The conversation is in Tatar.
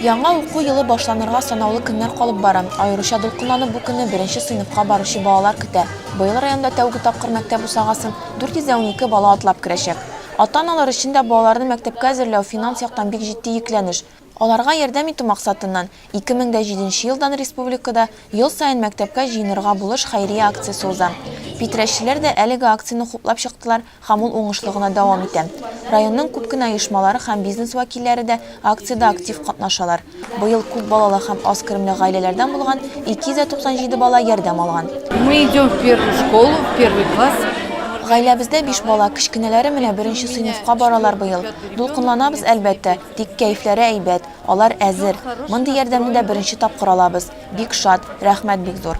Яңа уку елы башланырга санаулы көннәр калып бара. Аеруча дулкынланып бу көнне беренче сыйныфка баручы балалар көтә. Быел районда тәүге тапкыр мәктәп бусагасын 412 бала атлап керәчәк. Ата-аналар өчен дә балаларны мәктәпкә әзерләү финанс яктан бик җитди йөкләнеш. Аларга ярдәм итү максатыннан, 2007 елдан республикада Ел саен мәктәпкә җыенырга булыш хәйрия акциясе уза. Питрәчеләр дә әлеге акцияне хуплап чыктылар, Һәм ул уңышлы гына дәвам итә. Районның күп кенә оешмалары һәм бизнес вәкилләре дә акциядә актив катнашалар. Быел күп балалы һәм аз керемле гаиләләрдән булган 297 бала ярдәм алган. Мы идем в первую школу, в первый класс. Гаиләбездә биш бала, кечкенәләре менә беренче сыйныфка баралар быел. Дулкынланабыз, әлбәттә, тик кәефләре әйбәт, алар әзер. Мондый ярдәмне дә беренче тапкыр алабыз. Бик шат, рәхмәт бик зур.